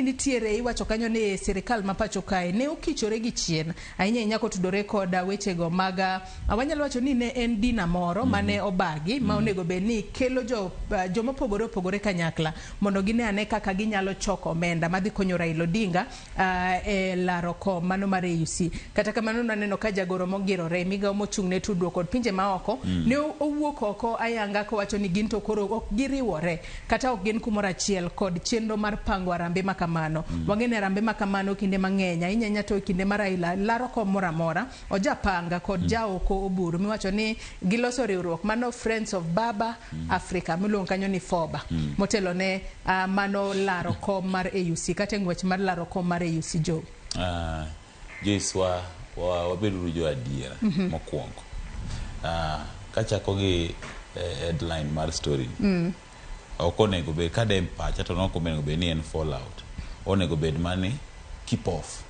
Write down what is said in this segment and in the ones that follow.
nitiere iwacho kanyo ni sirikal ma pacho kae ne okichore gi chien ahinya ahinya kotudore kod wechego mag ah, wanyalo wacho ni ne en dina moro mm. mane obagi mm. ma onego bed ni kelo jo, uh, joma opogore opogore kanyakla mondo gine ane kaka ginyalo choko omenda madhi konyo Raila Odinga uh, e laro kom mano mar AUC kata kamano naneno ka jagoro mogirore migawo mochung' ne tudruok kod pinje maoko mm. ne owuok oko ayanga kowacho ni gin to koro ok giriwore kata ok gin kumoro achiel kod chenro mar pango arambe ma kamano. Mm. Wang'e ni arambe ma kamano kinde mang'eny ahinya nya to kinde mar aila laro kom moro amora ojapanga kod mm. jaoko oburu miwacho ni giloso riwruok mano Friends of Baba mm. Africa miluongo kanyo ni FOBA mm. motelo ne uh, mano laro kom mar AUC kata e ng'wech mar laro kom mar AUC Joe. Uh. Joiswa wa- wabeduru jo adiera mokwongo. Ah, kachako gi eh, headline mar story ni. Ok onego bed ka de en pacha to nok onego bed ni en fallout. Onego bed mani keep off.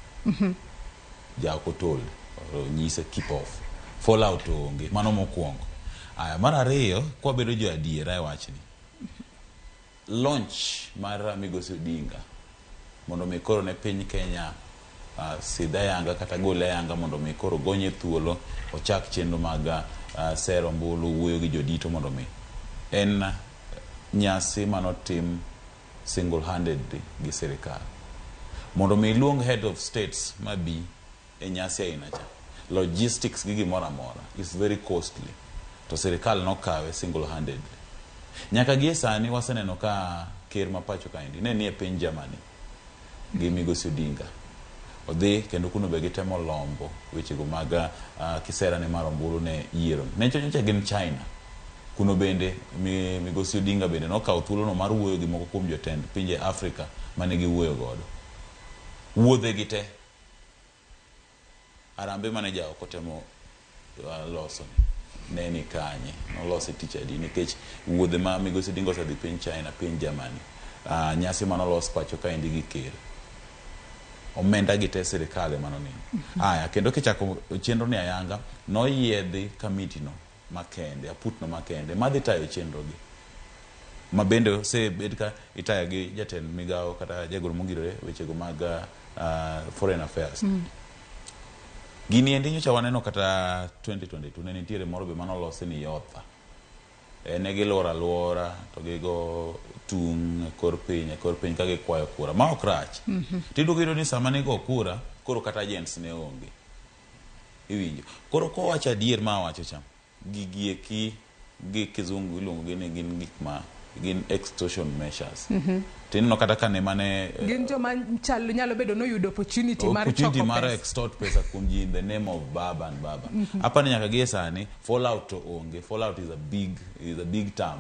Jaok otol onyise keep off. Fallout onge, mano mokwongo. Aya, mar ariyo kwabedo jo adiera e wachni. Launch mar Migosi Odinga mondo mi koro ne piny Kenya uh, sidh ayanga kata gol ayanga mondo mi koro gonye thuolo ochak chenro mag uh, sero ombulu wuoyo gi jodito mondo mi en uh, nyasi manotim single handedly gi sirikal mondo mi iluong head of states mabi e nyasi aina cha. Logistics gi gimoro amora is very costly to sirikal nokawe single handedly. Nyaka gie sani waseneno ka ker ma pacho kaendi ne nie piny Germany gi migosi Odinga odhi kendo kuno be gitemo lombo wechego mag uh, kisera ne mar ombulu ne yiero ne chochocha gin China kuno bende migosi Odinga bende nokawo thuolono mar wuoyo gi moko kuom jotend pinje Afrika mane giwuoyo godo wuodhe gi te Harambee mane jaoko temo loso ni ne ni kanye? Nolose tich adi? Nikech wuodhe ma Migosi Odinga osedhi piny China, piny Germany, uh, nyasi mane olos pacho kaendi gi ker omenda gi te sirikal ema noneno. Aya, kendo kichako chenro ni ayanga, noyiedhi kamiti no makende, aputno makende madhi tayo chenrogi ma bende osebed ka itayo gi jatend migawo kata jagoro mogirore wechego mag uh, foreign affairs mm. Gini endi nyocha waneno kata 2022 ne nitiere moro be mano losi ni yotha e, ne gilworo alwora to gigo tung' e kor piny e kor piny ka gikwayo kura ma ok rach mm -hmm. tidugido ni sama nigo kura koro kata agents ne onge Iwinjo. Koro kowacho adier ma awacho cha, gigi eki gi kizungu iluongo gi ni gin gik ma gin extortion measures. To ineno kata ka ne mane eh, Gin joma chal nyalo bedo ni oyudo opportunity mar opportunity choko mar pesa. extort pesa kuom ji in the name of baba and baba. Apa ni nyaka gie sani fallout to onge. Fallout is a big is a big term.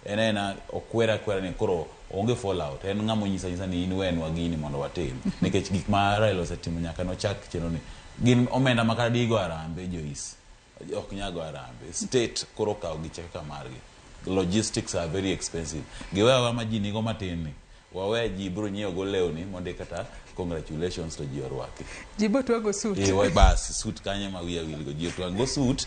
En aena okwer akwera ni koro onge fall out. En ng'ama onyisa anyisa ni in wenwa gini mondo watim. Nikech gik ma Raila osetimo nyaka ne ochak chenro ni. Gin omenda ma kata digo harambee Joyce ok nyal go harambee. State koro okawo gi kaka margi. Logistics are very expensive. Giwe aweya ma ji nigo matin ni. Wawe ji biro nyiewo go lewni mondo eka ta congratulations to ji orwaki. Ji bo twago suit. Eh, wa bas suit kanye ma wiya wil go ji otwang go suit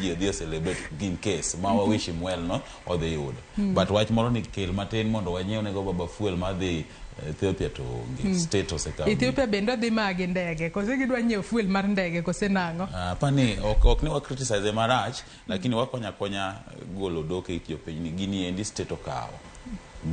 ji odhi celebrate in case ma wa wish him well no odhi yudo. Hmm. But wach moro ni kel matin mondo wanyiew ne go baba fuel ma dhi eh, Ethiopia to onge hmm. state osekawo. Ethiopia bende odhi magi ndege. Kose gidwa nyiewo fuel mar ndege kose nang'o? Ah, pani ok ok ne wa criticize marach Lakini wakonyo akonya golo odok e it jopinyni, gini endi state okawo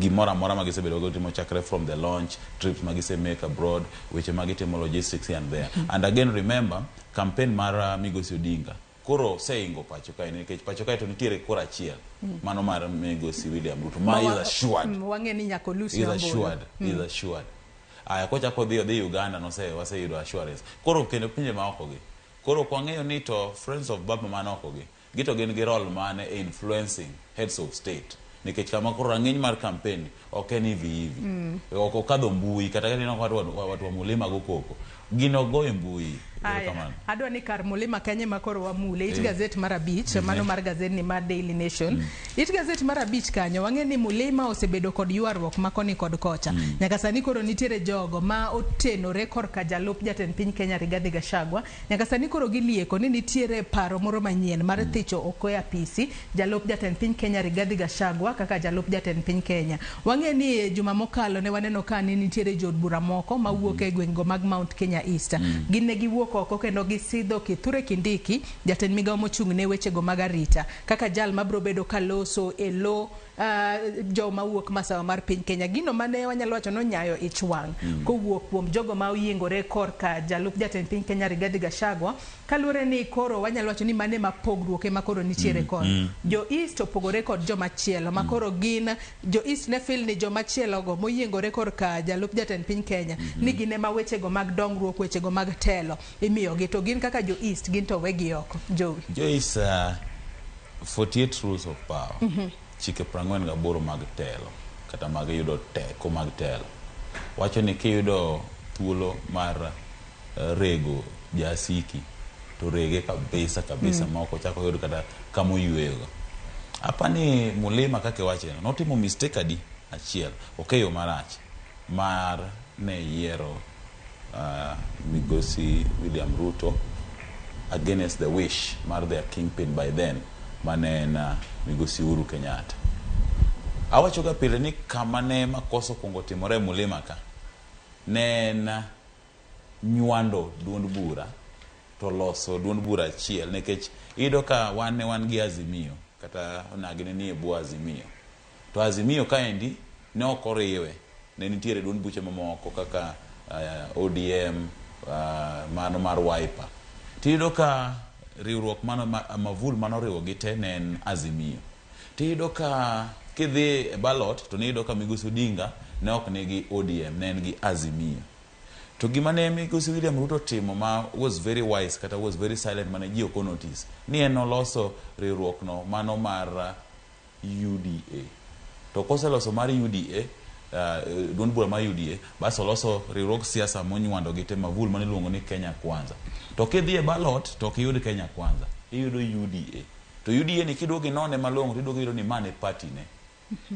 gimoro amora ma gisebedo go timo chakre from the launch trips ma gise make abroad weche ma gitimo logistics here and there and again remember campaign mar uh, migosi odinga koro oseingo pacho kae nikech pacho kae to nitiere kora achiel mano mar migosi william ruto ma is assured Mm, wang'e ni nyaka olus is Nyambura. assured is assured aya kochako odhi odhi uganda nose waseyudo assurance koro kendo pinje maoko gi Koro ok wang'eyo ni to Friends of Burma man oko gi, gito gin gi role mane e influencing heads of state. Nikech kama koro rang'iny mar campaign ni ok en hivi hivi. Ok okadho mbui kata ka ineno watu wa, watu wa Mulima go koko. Gin ok go e mbui. Ero Aya, kamano. adwa ni kar Mulima kanyo ema koro wamule. It Eh. gazet mar abich, mano mar gazedni mar Daily Nation. It gazet mar abich kanyo wang'e ni Mulima osebedo kod ywaruok ma koni kod kocha. Mm. Nyaka sani koro nitiere jogo ma otenore korka jalup jatend piny Kenya Rigathi Gachagua. Nyaka sani koro gilieko ni nitiere paro moro manyien mar mm. thicho oko e apisi jalup jatend piny Kenya Rigathi Gachagua kaka jalup jatend piny Kenya. Wang'e ni e juma mokalo ne waneno ka ni nitiere jood bura moko ma wuok e gweng'go mag Mount Kenya East. Mm. Gin ne giwuok oko kendo gisidho Kithure Kindiki Jatend migao mochung' ne wechego mag arita kaka jal mabro bedo ka loso e lo jo mawuok masawa mar piny Kenya. Gino mane wanyalo wacho ni onyayo ich wang' kowuok kuom jogo ma oyiengore korka jalup jatend piny Kenya Rigathi Gachagua kaluwore ni koro wanyalo wacho ni mano e ma pogruok e ma koro nitiere kod jo East opogore kod jo machielo ma koro gin jo East ne feel ni jo machielogo moyiengore korka jalup jatend piny Kenya ni gin e ma wechego mag dongruok, wechego mag telo. Imiyogi to gin kaka jo East gin to wegi oko. Jowi. Joyce, uh, 48 rules of power. Mm -hmm. Chike prang'wen gaboro mag telo kata mag yudo teko mag telo wacho ni kiyudo thuolo mar uh, rego jasiki to rege kabisa kabisa mm. maok ochako yud kata kama oyueyogo apa ni mulima kaka iwache notimo mistake adi achiel okeyo marach mar ne yiero migosi William Ruto against the wish mar their kingpin by then mane en migosi Uhuru Kenyatta. Awacho ga pile ni kama ne makosa okwongo timore e Mulima ka ne en nywando duond bura to loso duond bura achiel nikech iyudo ka wan ne wan gi Azimio kata onagi ne nie bwo Azimio To Azimio kaendi ne ok oriwe, ne nitiere duond buche mamoko kaka ODM, mano mar Wiper. To iyudo ka riwruok mano mavul mane oriwo gi te ne en Azimio. To iyudo ka kidhi e ballot to ne iyudo ka Migosi Odinga ne ok nigi ODM, ne en gi Azimio. To gima ne Migosi William Ruto otimo ma was very wise kata was very silent mane ji ok o notice, ni en noloso riwruok no mano mar. UDA. To koseloso mar UDA, uh, eh, duond bura mar UDA, bas oloso riwruog siasa monywando gi te mavul mane iluongo ni Kenya Kwanza. To kidhi e ballot to ok iyud Kenya Kwanza, iyudo UDA. To UDA ni kiduogo inone malong'o to iduogo iyudo ni mane party ne.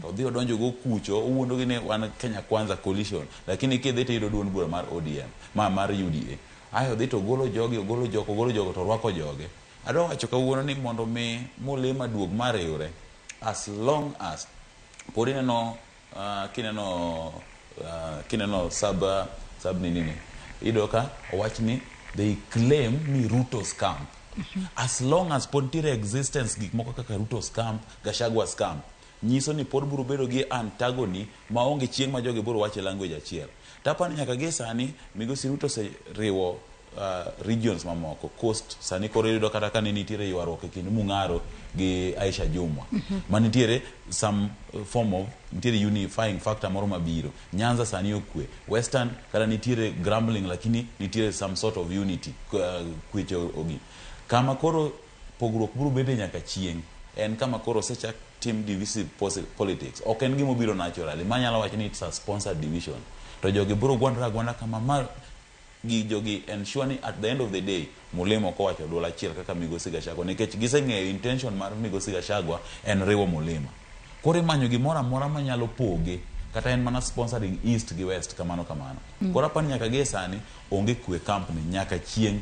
To odhi odonjo go kucho, owuondo gi ni wan Kenya Kwanza coalition, lakini kidhi to iyudo duond bura mar ODM, ma mar UDA. Ayo odhi to ogolo jogi, ogolo jogo, ogolo jogo to orwako joge. Adwa wacho kawuono ni mondo mi mulima duog ma riwre as long as pod ineno uh, kineno uh, kineno sub uh, sub nini ni ido ka owach ni they claim ni Ruto's camp as long as pod nitiere existence gik moko kaka Ruto's camp Gashagwa's camp nyiso ni pod biro bedo gi antagony maonge chieng' ma jogi biro wacho e language achiel. To aparo ni nyaka gie sani Migosi Ruto oseriwo regions mamoko. Coast sani koro iyudo kata ka ne nitiere ywaruok e kind Mung'aro gi Aisha Jumwa ma nitiere some form of nitiere unifying factor moro mabiro. Nyanza sani okwe. Western kata nitiere grumbling lakini nitiere some sort of unity, kwe ogi. Kama koro Pogruok biro bete nyaka chieng'. En kama koro osechak tim divisive politics. Ok en gima obiro naturally. Ma anyalo wacho ni it's a sponsored division. To jogi biro gwandore agwanda kama ma gi jogi ensure ni at the end of the day Mulima ok owacho duol achiel kaka Migosi Gachagua nikech giseng'eyo intention mar Migosi Gachagua en riwo Mulima. Koro imanyo gimoro amora manyalo poge kata en mana sponsoring East gi West kamano kamano. Koro apani nyaka gie sani Onge kwe e camp ni nyaka chieng'.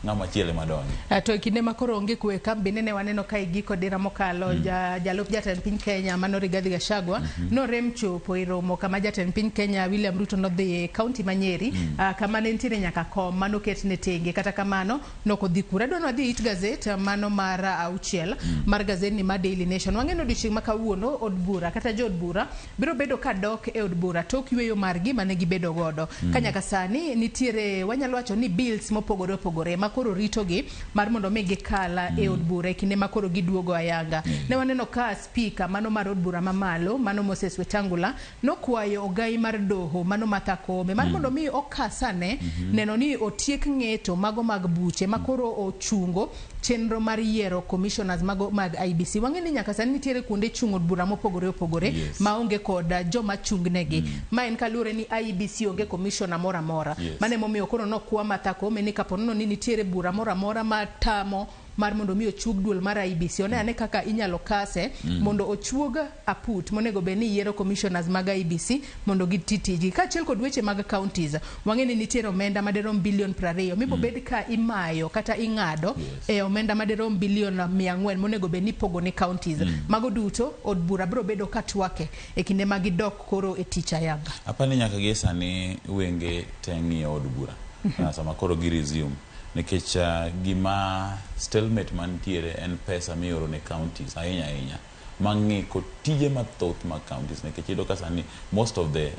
Ng'ama chielo ema donjo. Eh, to e kinde ma koro onge kwe e camp bende ne waneno ka igiko dira mokalo mm. ja, jalup jatend piny Kenya mano Rigathi Gachagua mm -hmm. norem chopo e romo kama jatend piny Kenya William Ruto nodhi e kaunti ma Nyeri mm. uh, kama ne nitiere nyaka kom mano ket ne tenge kata kamano noko dhi kura dwano adhi it gazet ah, mano mar auchiel mm. mar gazet ni ma Daily Nation wang'eno odiochieng' ma kawuono od bura kata jo od bura biro bedo ka dok e od bura tok yueyo margi mane gibedo godo ka nyaka sani nitiere wanyalo wacho ni bills mopogore opogore ma koro ritogi mar mondo mi gikal e od bura e kinde ma koro giduogo ayanga. Ne waneno ka spika mano mar od bura mamalo mano Moses Wetangula nokwayo ogai mar doho mano Martha Koome mar mondo mi okas ane neno ni otiek ng'eto mago mag buche ma koro ochungo chenro mar yiero commissioners mago mag IBC. Wang'e ni nyaka sani nitiere kuonde chung' od bura mopogore opogore yes. maonge kod uh, joma chung' negi. Mm. Ma en kaluwore ni IBC onge commissioner moro amora. Yes. Mane momiyo koro nokwa Martha Koome ni kaponono ni nitiere bura moro amora matamo mar mondo mi ochuog duol mar IBC. One ane kaka inyalo kase mm. mondo ochuog aput monego bed ni yiero commissioners mag IEBC mondo giti tijgi kaachiel kod weche mag counties. Wang'e ni nitiere omenda madirom billion prariyo mibobed ka imayo kata ing'ado e omenda madirom billion mia ang'wen monego bed ni ipogo ne counties. Mago duto od bura biro bedo ka twake e kinde ma gidok koro e tich ayanga. Apa ni nyaka gie sani wenge te ng'iyo od bura ah, sama koro gi resume nikech ah, gima stalemate mantiere en pesa mioro ne counties ahinya ahinya ma ngiko tije mathoth mag counties nikech iyudo ka sani most of the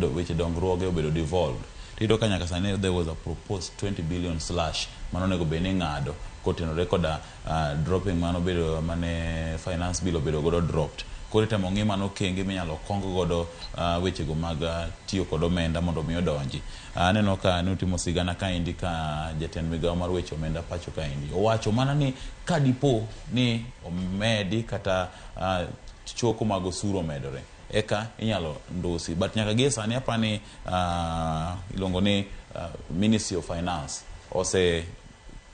uh, weche dongruoge obedo devolved tiyudo ka nyaka sani there was a proposed 20 billion slash mano onego bed ni ng'ado kotenore koda uh, dropping mano bedo mane finance bill obedo godo dropped koro itemo ng'i mano okenge minyalo kong godo uh, wechego mag uh, tiyo kod omenda mondo mi odonji aneno uh, ka ne utimo sigana kaendi ka jatend migawo mar weche omenda pacho kaendi owacho mana ni ka dipo ni omedi kata uh, choko mag osuru omedore eka inyalo ndusi but nyaka gie sani apa ni uh, iluongo ni uh, ministry of finance ose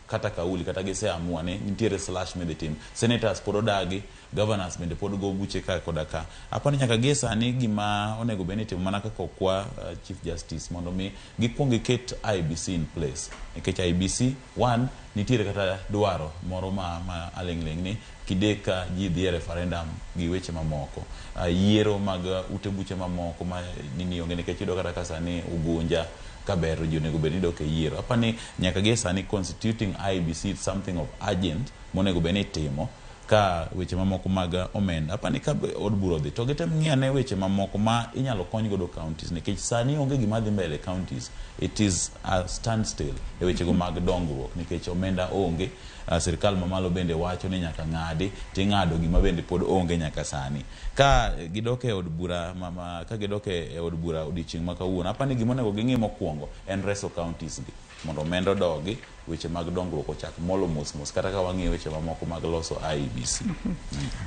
kata kauli kata giseamua ni nitiere slash midhi tim senators pod odagi governors bende pod go buche ka koda ka apa ni nyaka gie sani gima onego bed ni timo mana kaka okwa uh, chief justice mondo mi gikwong giket ibc in place nikech ibc one Nitiere kata dwaro moro ma ma aling' ling' ni kidek ka ji dhi e referendum gi weche mamoko. Yiero mag ute buche mamoko ma nini onge nikech iyudo kata ka sani Ugunja ka ber to ji onego bed ni dok e yiero. Apa ni nyaka gi e sani constituting IEBC is something of urgent monego bed ni itimo. ka weche mamoko mag omenda. Apani ka od bura odhi to gitem ng'iyo ane weche mamoko ma inyalo kony godo counties nikech sani onge gima dhi mbele counties. It is a standstill e wechego mag dongruok nikech omenda onge. Uh, sirkal mamalo bende wacho ni nyaka ng'adi ting'ado gima bende pod onge nyaka sani. Ka gidok e od bura ma, ma, ka gidok e od bura odiechieng' ma kawuono, apani gima onego ging'i mokwongo en reso counties gi. mondo omenda odogi, weche mag dongruok ochak molo mos mos kata ka wang'iyo weche mamoko mag loso IEBC.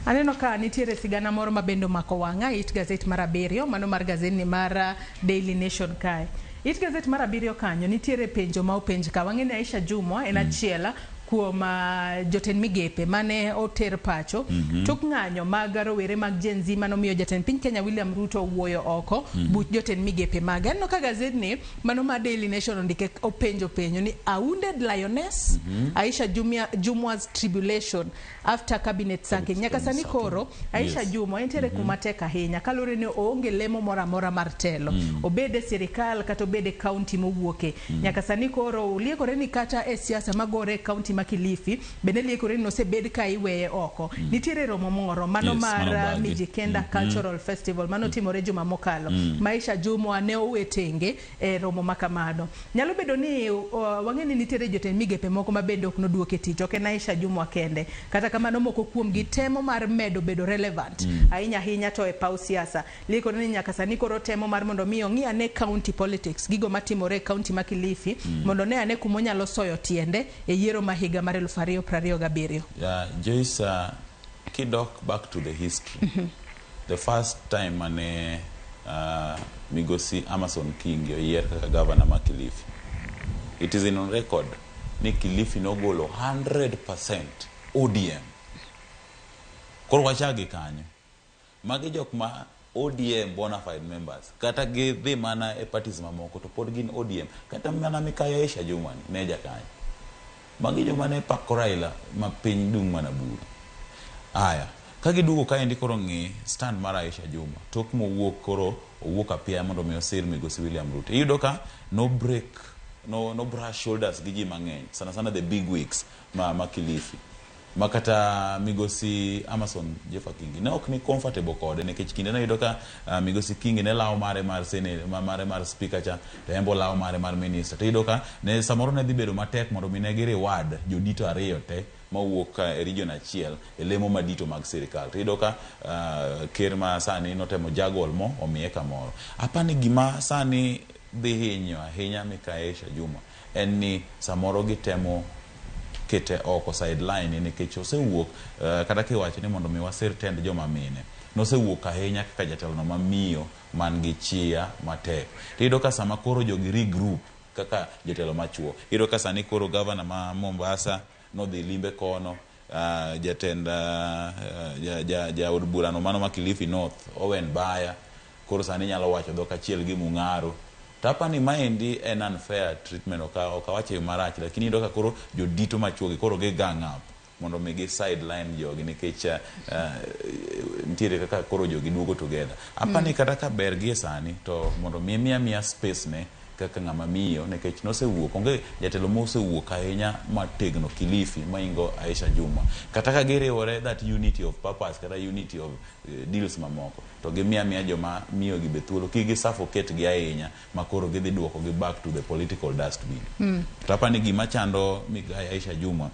Aneno ka nitiere sigana moro ma bende omako wang'a it gazet mar abiriyo mano mar gazetni mar ah, Daily Nation kae. It gazet mar abiriyo kanyo nitiere penjo ma openj ka wang'e ni Aisha Jumwa en achiel kuom ah, jotend migepe mane oter pacho tok ng'anyo mag rowere mag Gen Z manomiyo jatend piny Kenya William Ruto wuoyo oko buch jotend migepe mage. Aneno ka gazetni Mano ma Daily Nation ondike openjo penjo ni a wounded lioness mm -hmm. Aisha Jumia, Jumwa's tribulation after cabinet sacking nyaka sani koro Aisha yes. Jumwa entiere mm -hmm. kuma tek ahinya kalure ni oonge lemo moro amora mar telo mm -hmm. obede sirikal kata obede county mowuoke mm -hmm. nyaka sani koro uliekore ni kata e siasa magore e county ma Kilifi Bende liekore ni nosebed ka iweye oko. Nitiere romo moro, mano Yes, mar mano uh, bagi. Mijikenda Cultural Festival, mano timore juma mokalo. Maisha Jumwa ne owe tenge e romo ma kamano. Nyalo bedo ni uh, wang'e ni nitiere jotend migepe moko ma bende ok noduok e tich, ok en Aisha Jumwa kende. Kata kamano moko kuomgi temo mar medo bedo relevant ahinya ahinya to e paw siasa. Lee koro ni nyaka sani koro otemo mar mondo mi ong'i ane county politics, gigo matimore e county ma Kilifi mondo one ane kuma onyalo soyo tiende e yiero ma higa mar eluf ariyo prariyo gabiriyo. Yeah, Joyce, uh, kidok back to the history, the first time mane uh, migosi Amason Kingi oyier kaka governor ma Kilifi, it is in on record ni Kilifi nogolo 100% ODM. Koro wachak gi kanyo. Magi jok ma ODM bonafide members kata gi dhi mana e parties mamoko to pod gin ODM. Kata mana Mikayo Aisha Jumwa ni ne jakanyo. Magi joma ne pako Raila ma piny dung' mana buru. Aya, ka giduogo kaendi koro ng'i stand mar Aisha Jumwa tok mowuok koro owuok apiaya mondo mi osir migosi William Ruto. Iyudo ka no break, no no brush shoulders gi ji mang'eny sana sana the big wigs ma ma Kilifi. ma kata migosi Amason Jeffa Kingi ne ok ni comfortable kode nikech kinde nayudo ka uh, migosi Kingi ne lawo mare mar senate mare mar speaker cha to embo lawo mare mar minister to iyudo ka ne samoro ne dhi bedo matek mondo mi ne gi reward jodito ariyo te mawuok e region achiel e lemo madito mag sirikal to iyudo ka uh, ker ma sani notemo jagol mo omiye kamoro apani gima sani dhi hinyo ahinya Mikaesha Juma en ni samoro gitemo kete oko, sideline, nikech osewuok, kata kiwacho ni mondo mi wasir tend joma mine, nosewuok ahinya kaka jatelono ma miyo man gi chia matek. To iyudo ka sama koro jogi regroup kaka jotelo machuo, iyudo ka sani koro Governor ma Mombasa, nodhi limbe kono. Uh, jatend uh, ja, ja, ja od burano mano ma Kilifi North Owen Baya koro sani nyalo wacho dhok achiel gi Mung'aro tapa ni maendi en unfair treatment ok awache yo marach lakini iyudo ka koro jodito machuogi koro gi gang up mondo mi gi sideline jogi nikech uh, uh, nitiere kaka koro jogi duogo together apani mm. kata ka ber gi e sani to mondo mi miya miya space ne kaka ng'ama miyo nekech nosewuok onge jatelo mosewuok ahinya mategno Kilifi maingo Aisha Jumwa kata ka giriwore that unity of purpose kata unity of eh, deals mamoko to gimiya miya joma miyo gi be thuolo kik gi suffocate gi ahinya makoro gidhi duoko gi back to the political dustbin mm. to apani gima chando migai Aisha Jumwa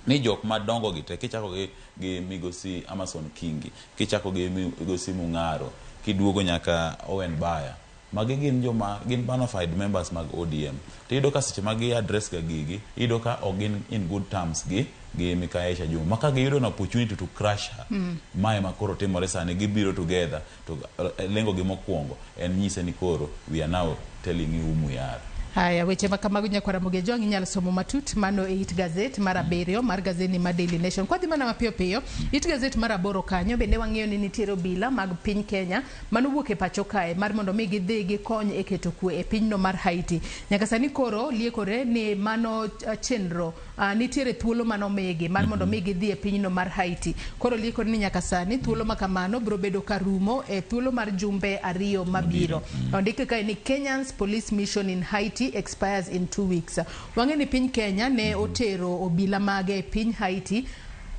ni jok madongo gi te kichako gi, gi migosi Amason Kingi kichako gi migosi Mung'aro kiduogo nyaka Owen Baya Magi gin joma gin bonafide members mag ODM. To iyudo ka seche ma gi address ga gigi, iyudo ka ok gin in good terms gi gi Mikayi Aisha Jumwa. Ma ka giyudo an opportunity to crush her, ma ema koro timore sani. Gibiro together to lengo gi mokuongo en nyise ni koro we are now telling you whom we are. Haya, weche ma kamago Nyakwar Ramogi Ajwang' inyalo somo matut mano e it gazet mar abiriyo mar gazedni mar Daily Nation. Kwadhi mana mapiyo piyo, it gazet mar aboro kanyo bende wang'eyo ni nitiere obila mag piny Kenya mane owuok e pacho kae mar mondo mi gidhi gikony e keto kwe e pinyno mar Haiti. Nyaka sani koro liekore ni mano chenro uh, nitiere thuolo mane omigi mar mondo mi gidhi e pinyno mar Haiti. Koro liekore ni nyaka sani thuolo ma kamano biro bedo ka rumo e thuolo mar jumbe ariyo mabiro. Ondike kae ni Kenyans police mission in Haiti expires in two weeks. Wang'e ni piny Kenya ne otero obila mage e piny Haiti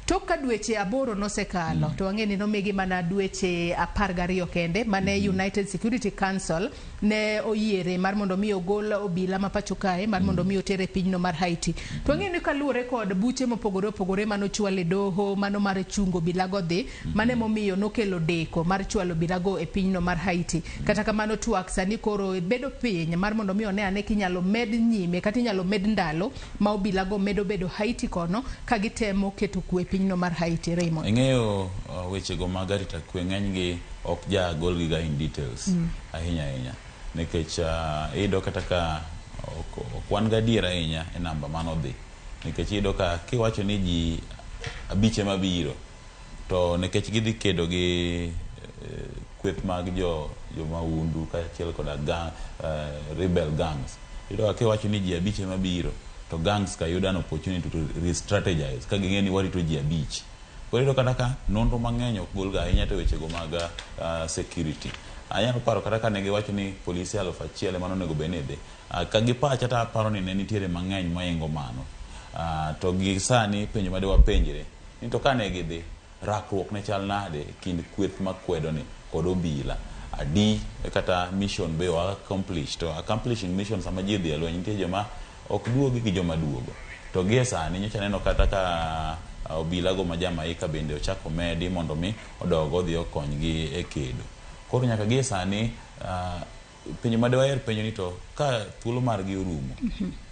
Tok ka dweche aboro nosekalo, to wang'e ni nomigi mana dweche apar gariyo kende mane United Security Council ne oyiere mar mondo mi ogol obila ma pacho kae mar mondo mi oter e pinyno mar Haiti. To wang'eyo ni kaluwore kod buche mopogore opogore mane ochwal e doho, mano mar chungo obilago dhi, mano emomiyo nokelo deko mar chwalo obilago e pinyno mar Haiti. Kata kamano twak sani koro bedo piny mar mondo mi one ane kinyalo med nyime kata inyalo med ndalo ma obila go medo bedo Haiti kono ka gitemo keto kwe e pinyno mar Haiti. Raymond. Ing'eyo uh, weche go mag arita kwe ng'enygi ok ja golgi ga in details mm. ahinya ahinya nikech uh, iyudo kata ka ok, ok wan ga adier ahinya e namba manodhi nikech iyudo ka kiwacho ni ji abich ema biro To nikech gidhi kedo gi kweth mag jo jomahundu kaachiel koda gang, uh, rebel gangs, iyudo ka kiwacho ni ji abich ema biro, to gangs ka yudo an opportunity to re-strategize ka ging'eyo ni warito ji abich. Koro iyudo kata ka nonro mang'eny ok golga ahinya to wechego mag uh, security. Anyalo paro kata ka ne giwacho ni polise aluf achiel ema nonego bed ni dhi. Uh, ka gi pacha to aparo ni ne nitiere mang'eny moingo mano. Uh, to gi sani penjo ma dewapenjre Ni to ka ne gidhi, rakruok ne chal nade e kind kweth ma kwedo ni kod obila? Adi kata mission be o accomplish, to accomplishing mission sama ji odhi e lweny nitie joma ok duogi gi joma duogo. To gie sani nyocha aneno kata ka obila go ma Jamaica bende ochak omedi mondo mi odog odhi okonygi e kedo. Koro nyaka gie sani penjo ma de waher penjo ni to ka thuolo margi orumo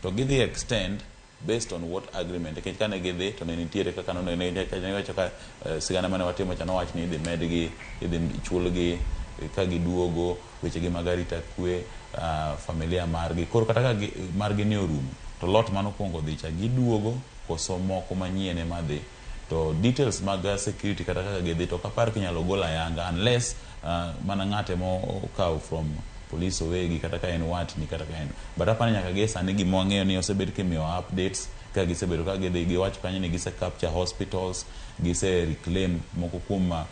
to gidhi extend Based on what agreement? Nikech kane gidhi to ne nitiere kaka nonego ne ne wacho ka eh, sigana mane watimo cha nowach ni idhi medgi, idhi chulgi eh, ka giduogo, wechegi mag arita kwe, ah, familia margi. Koro kata ka gi- margi ne orumo to lot mane okuongo odhi cha giduogo koso moko manyien ema dhi? To details mag security kata kaka gidhi to ok apar kinyalo gol ayanga unless uh, mana ng'at ema okaw from police owegi kata ka en watni kata ka en but apani nyaka gie sani gima wang'eyo ni osebed kimiyo updates ka gisebedo ka gidhi giwacho kanyo ni gise capture hospitals gise reclaim moko kuom uh,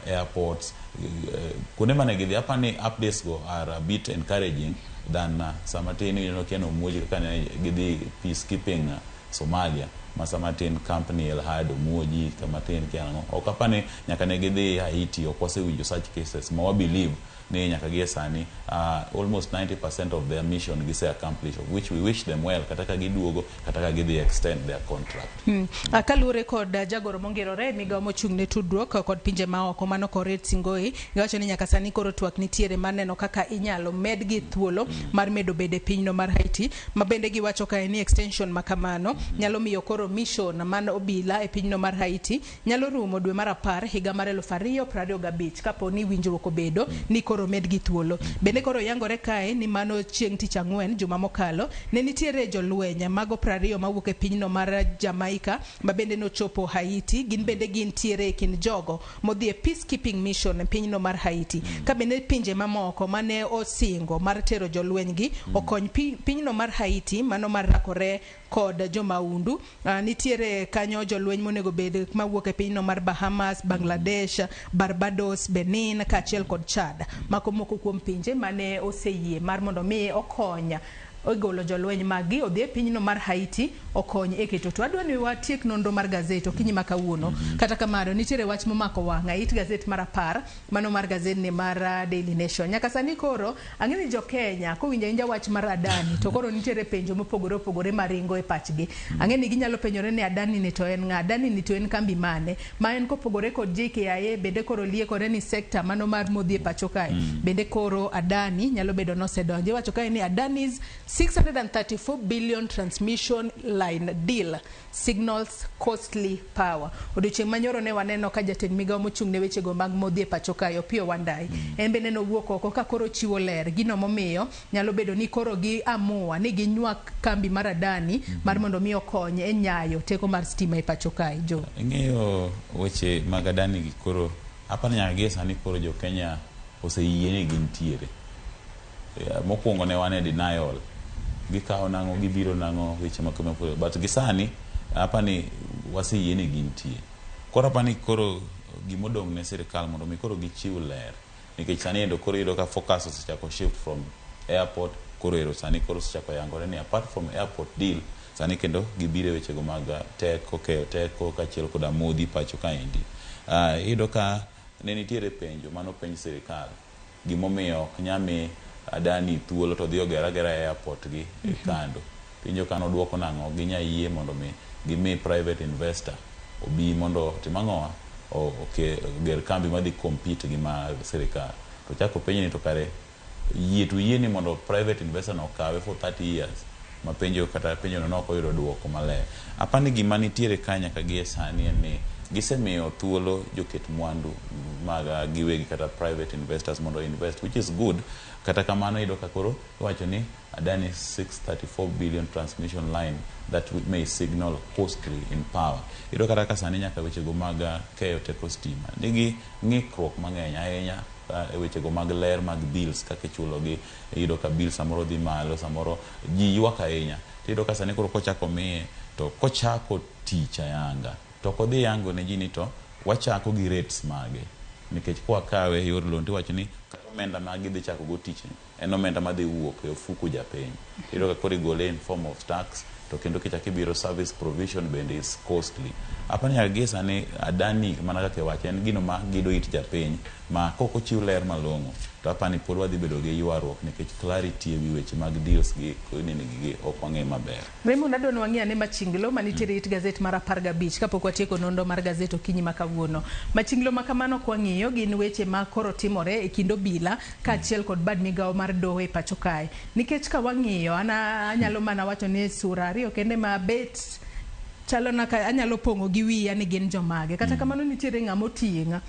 airports uh, kuonde mane gidhi apani updates go are a bit encouraging than uh, sama tin ineno kiano muoji kaka ne gidhi peacekeeping uh, Somalia, ma sama tin camp ni El Had omuo ji, kama tin kia nang'o. Ok apa ni nyaka ne gidhi Haiti, ok wasewinjo such cases ma wa believe ni nyaka gie sani uh, almost 90% of their mission gise accomplish of which we wish them well kata ka giduogo kata ka gidhi extend their contract. Mm. Ah, Kaluwore kod ah, jagoro mongerore e migawo mochung' ne tudruok ah, kod pinje maoko mano Koret Singoi, Giwacho ni nyaka sani koro twak nitiere mar neno kaka inyalo medgi thuolo mar medo bedo e pinyno mar Haiti, ma bende giwacho kae ni extension ma kamano nyalo miyo koro mission man obila e pinyno mar Haiti nyalo rumo dwe mar apar higa mar eluf ariyo prariyo gabich kapo ni winjruok obedo ni koro omedgi thuolo. Bende koro yangore kae ni mano chieng' tich ang'wen juma mokalo ne nitiere jolweny mago prariyo mawuok e pinyno mar Jamaica ma bende nochopo Haiti, gin bende gin tiere e kind jogo modhi e peacekeeping mission e pinyno mar Haiti, ka bende pinje mamoko mane osingo mar tero jolwenygi okony pi, pinyno mar Haiti mano mar rakore kod jomaundu. Uh, nitiere kanyo jolweny monego bed mawuok e pinyno mar Bahamas, Bangladesh, Barbados, Benin kaachiel kod Chad. Mago moko kuom pinje mane oseyie mar mondo mi okony ogolo jolweny maggi odhi e pinyno mar Haiti okony e keto. To adwa ni watiek nonro mar gazet okinyi ma kawuono. Mhm. Kata kamano, nitiere wach momako wang'a it gazet mar apar, mano mar gazedni mar ah, Daily Nation. Nyaka sani koro, ang'e ni jo-Kenya kowinjo awinja wach mar Adani, to koro nitiere penjo mopogore opogore maringo e pachgi. Mhm. Ang'e ni ginyalo penjore ni Adani ni to en ng'a? Adani ni to en kambi mane? Ma en kopogore kod JKIA bende koro liekore ni sekta mano mar modhi e pacho kae mm. bende koro Adani nyalo bedo nosedonjo. Iwacho kae ni Adani's 634 billion transmission line deal signals costly power. Odiochieng' manyoro ne waneno ka jatend migawo mochung' ne wechego mag modhi e pacho kae Opiyo Wandayi mm. en bende nowuok oko ka koro chiwo ler gino momiyo Nyalo bedo ni koro gi amua ni gi nywak kambi mar Adani mm -hmm. mar mondo mi okony e nyayo teko mar stima e pacho kae jo. Ing'eyo weche mag Adani gi koro apani nyaka gi sani koro jo Kenya oseyie ni gintiere. Eh, mokwongo ne wane denial gikawo nang'o gibiro nang'o weche makama koro but gisani apani waseyie ni gintie. Koro apani koro gimodong' ne sirikal mondo mi koro gichiw ler. nikech sani endo koro iyudo ka focus osechako shift from airport koro ero sani koro osechako yangore ni apart from airport deal sani kendo gibiro e wechego mag teko, keyo teko kaachiel koda modhi pacho kaendi. Uh, iyudo ka ne nitiere penjo mane openj sirikal gimomiyo ok nyami Adani thuolo to dhi oger agera e airport gi e kando. Penjo kano duoko nango ginya yie mondo mi gimi private investor obi mondo otim angowa? Oger kambi madhi compete gi ma sirikal. To ochak openj ni to kare yie to uyie ni mondo private investor no okawe for thirty years? Ma penjo kata penjo no ne ok oyudo duoko maler. Apa ni gima nitiere ka nyaka gie sani en ni gisemiyo thuolo joket mwandu mag giwegi kata private investors mondo o invest which is good kata kamano iyudo ka koro iwacho ni Adani 634 billion transmission line that may signal hostry in power. Iyudo kata ka sani nyaka wechego mag keyo teko stima nigi ng'ikruok mang'eny ahinya e wechego mag ler mag bills kaka ichulogi. Iyudo ka bill samoro dhi malo, samoro ji ywak ahinya. Tiyudo ka sani koro kochako miye to kochako tich ayanga to ok odhi yango ne ji ni to wachako gi rates mage nikech kwa kawe e yor loan tiwacho ni kata omenda ma gidhi chakogo tichni. En omenda madhi wuok e ofuku japiny. Iyudo ka koro igole in form of tax to kendo kichak ibiro service provision bende is costly. Apani nyaka gie sani Adani mana kaka iwacho en gino ma gido it japiny ma kok ochiw ler malong'o to apani pod wadhi bedo gi ywaruok nikech clarity e wi weche mag deals gi nini gi ok wang'e maber. Raymond adwani wang'i ane machinglo manitiere it gazet mar apar gabich kapok watieko nonro mar gazet okinyi ma kawuono. Machinglo ma kamano kwang'iyo gin weche ma koro timore e kind obila kaachiel kod bad migawo mar doho e pacho kae. Nikech ka wang'iyo an anyalo mana wacho ni sura ariyo kende ma bet chalo na ka anyalo pong'o gi wiya ni gin jomage. Kata kamano nitiere ng'ama oting'a.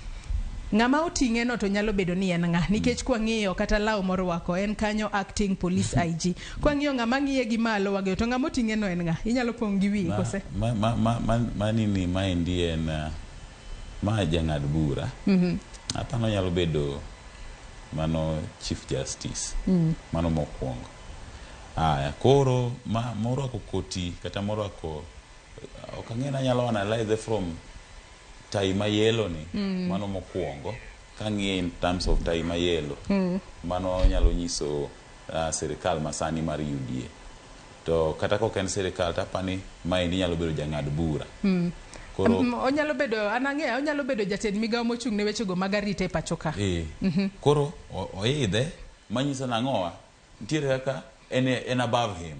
Ng'ama oting'e no to nyalo bedo ni en ng'a nikech kwang'iyo kata law morwako en kanyo acting police IG. Kwa ng'iyo ng'ama ng'iye gi malo wageyo to ng'ama oting'e no en ng'a? Inyalo pong' gi wiyi kose? Ma, ma, ma, ma, ma nini ma endi en uh, ma jang'ad bura. Mm-hmm. Apano nyalo bedo mano Chief Justice. Mm. Mano mokwongo. Aya, koro ma morwako koti kata morwako eh, ok ang'e nanyalo analyze from tai ma yellow ni mm. mano mokwongo kang'iye in terms of tai ma yellow mm. mano nyalo nyiso sirikal masani mar UDA. To kata kok en sirikal tapani maendi nyalo bedo jang'ad bura. Mm. Koro um, onyalo bedo an ang'eya onyalo bedo jatend migawo mochung' ne wechego mag arita e pacho ka. Eh. Mm -hmm. Koro oidhe manyiso nang'owa ntiere kaka en, en above him.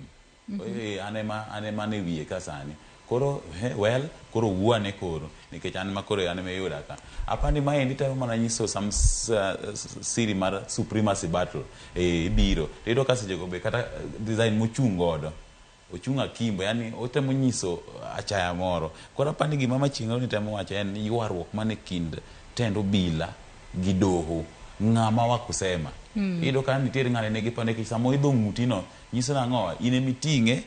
Eeh, an ema, an ema an e wiye ka sani. Koro, he, well, koro wuo ane koro, nikech an ema koro, an ema iyuda ka. Apa ni maendi temo mana nyiso some s- uh, s- siri mar supremacy battle. Eeh, ibiro. To iyudo ka sechego be kata design mochung' godo, ochung' akimbo, yani otemo nyiso achaya moro. Koro apa ni gima machieng'no ni temo wacho en ni ywaruok man e kind tend obila gi doho, ng'ama wa kusema. Iyudo ka nitiere ng'ane ne gipa nikech sama oidho ng'utino, Nyiso nang'o? In ema iting'e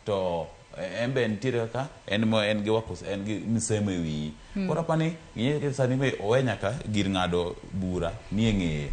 to en be nitiere kaka en ma en gi wako en gi msemo e wiyi. Hmm. Koro apani ng'e ke sani be owe nyaka gir ng'ado bura ni e ng'eye.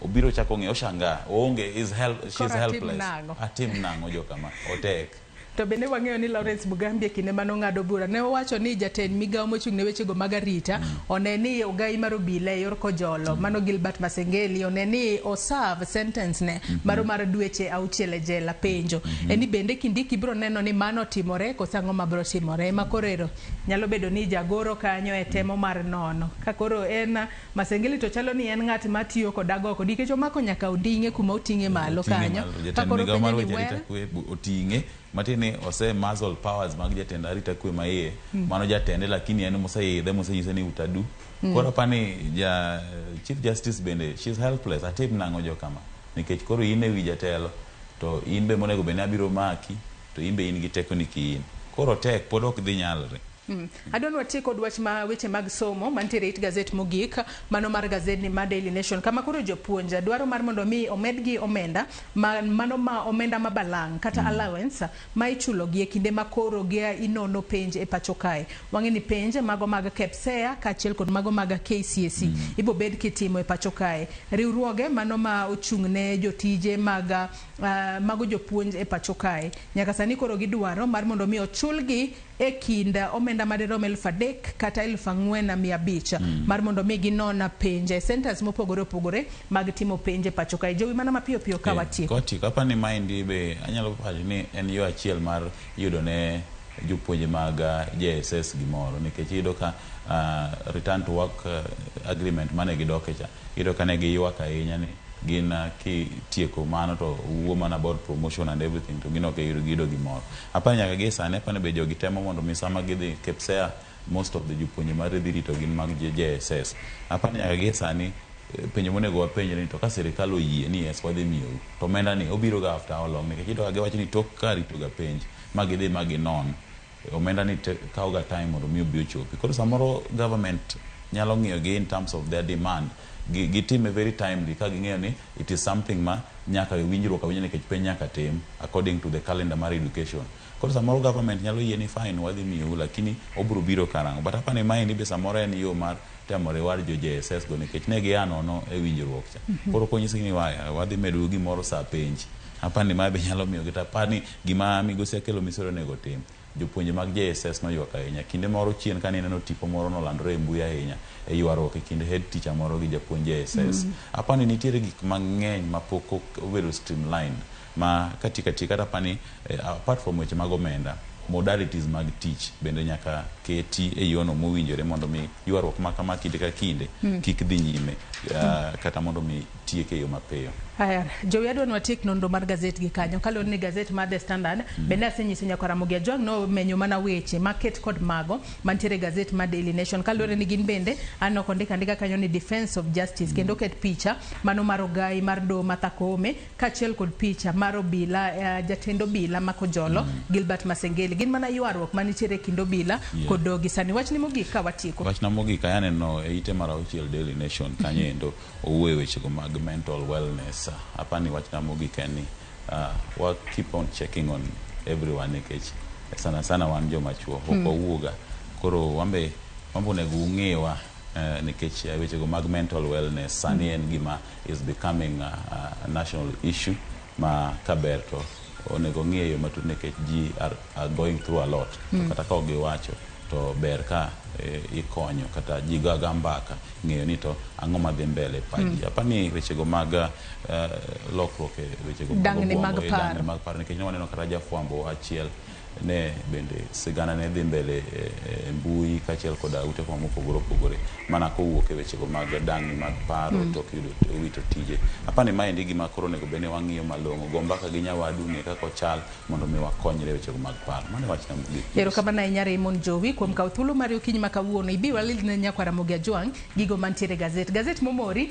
Obiro chako ng'e oshanga oonge is help she is helpless. Atim nang'o jo kama otek. To bende wang'eyo ni Lawrence Mugambi e kinde mane ong'ado bura ne owacho ni jatend migawo mochung' ne wechego mag arita hmm. One ni ogai mar obila e yor kojolo mano Gilbert Masengeli one ni o serve sentence ne maro mar dweche auchiel e jela. Penjo en ni bende Kindiki biro neno ni mano otimore koso ang'o ma biro timore? Ema koro ero nyalo bedo ni jagoro kanyo e temo mar nono. Ka koro en Masengeli to chalo ni en ng'at ma tiyo kod agoko nikech omako nyaka onding'e kuma oting'e malo kanyo. Ka koro penjo ni well. Matiende ni ose muzzle powers mag jatend arita kwe ma iye. Mm. Mano jatende lakini en moseidhe mosenyise ni utadu. Mm. Koro apani ja Chief Justice bende she's helpless atim nang'o jo kama. Nikech koro in e wi jatelo to in be monego bende abiro maki to in be in gi teko ni kiin. Koro tek pod ok dhi nyalre. Mm. Adwa ni watie kod wach ma weche mag somo mantiere e it gazet mogik, mano mar gazedni mar Daily Nation kama koro jopuonj dwaro mar mondo omi omedgi omenda ma mano ma omenda ma balang' kata mm. allowance ma ichulogi e kinde ma koro gia inono penj e pacho kae. Wang'e ni penj mago mag KPSEA kaachiel kod mago mag KCSE mm. ibo bed kitimo e pacho kae. Riwruoge mano ma ochung' ne jotije mag uh, mago jopuonj e pacho kae nyaka sani koro gidwaro mar mondo omi ochulgi e kind omenda madirom elfu adek kata elfu ang'wen mia abich mar mondo mi ginon penj e centers mopogore opogore mag timo penj e pacho kae. Jowi mana mapiyo piyo ka watieko. Kwatieko, aparo ni maendi be anyalo wacho ni en yo achiel mar yudo ne jopuonje mag JSS gimoro nikech iyudo ka return to work agreement mane gidoke cha, iyudo ka ne giywak ahinya ni gin kitieko mano to wuo mana about promotion and everything to gin ok giyudo gimoro. Apani nyaka gie sani apani be jogi temo mondo mi sama gidhi KPSEA most of the jopuonje mar dhi rito gin mag JSS. Apani nyaka gie sani eh, penjo monego wapenjre ni to ka sirikal oyie ni yes wadhi miyou to omenda ni obiro ga after how long nikech iyudo ka giwacho ni tok ka rito ga penj ma gidhi ma ginon eh, omenda ni te- kawo ga time mondo mi obi ochopi. Koro samoro government nyalo ng'iyo gi in terms of their demand gi- gitime very timely ka ging'eyo ni It is something ma nyaka e winjruok awinja nikech penj nyaka tim according to the calendar mar education. Koro samoro government nyalo yie ni fine wadhi miyou lakini obiro biro karang'o. But apani maendi be samoro en yo mar temo reward jo JSS go nikech ne gia nono e winjruok cha. Koro konyisgi ni waya wadhi medou gimoro saa penj. Apani mae be nyalo miyogi to apani gima migosi Akello Misori onego otim. Jopuonje mag JSS noywak ahinya. Kinde moro chien kane ineno tipo moro nolandore e mbui ahinya e ywaruok e kind head teacher moro gi japuonj JSS. Aparo ni nitiere gik mang'eny ma pok obedo streamlined ma katieko atieka kata aparo ni apart from weche mag omenda, modalities mag tich bende nyaka keti e yono mowinjore mondo mi ywaruok ma kama kinde ka kinde kik dhi nyime kata mondo mi tieke e yo mapiyo. Aya, jowi adwa ni watiek nonro mar gazet gi kanyo. Kaluwore ni gazet mar The Standard, mm. bende asenyiso nyako Ramogi Ajwang' ni omenyo mana weche maket kod mago mantiere e gazet mar Daily Nation. Kaluwore ni gin bende aneno kondika ndika kanyo ni Defense of Justice, mm. kendo oket picha mano mar ogai mar do Martha Koome, kaachiel kod picha mar obila, uh, jatend obila ma Kojolo, mm. Gilbert Masengeli. Gin mana ywaruok manitiere e kind obila yeah. kod dogi. Sani wachni mogik ka watieko. Wachna mogik ayaneno e ite mar auchiel Daily Nation kanyo endo. owuoye wechego mag mental wellness, apani wachna mogik en ni wa keep on checking on everyone nikech sana sana wan joma chuo ok hmm. wawuoga koro wambe wambe onego ung'ewa Uh, nikech uh, wechego mag mental wellness sani hmm. en gima is becoming a, a national issue ma kaber to onego ong'i e yo matut nekech ji are going through a lot to mm. kata ka ok giwacho to ber ka e, ikonyo kata ji gaga mbaka ng'eyo ni to ang'o madhi mbele e paji mm. apani wechego mag uh, lokruok e wechego mag paro nikech ne waneno kata jafwambo achiel ne bende sigana ne dhi mbele e, e mbui kaachiel koda ute fwambo mopogore opogore mana kowuok e wechego mag dang'ni mag paro mm. tok yudo owito tije. Apa ni maendi gima koro onego bed ni wang'iyo malong'o, go mbaka gi nyawadu ng'e kaka ochal mondo mi wakonyre e wechego mag paro. Mano e wachna mogik. Erokamano ahinya Raymond Jowi kuom kawo thuolo mari okinyi ma kawuono. Ibi walil ne nyakwara Mogi Ajwang' gigo mantiere e gazet. Gazet momori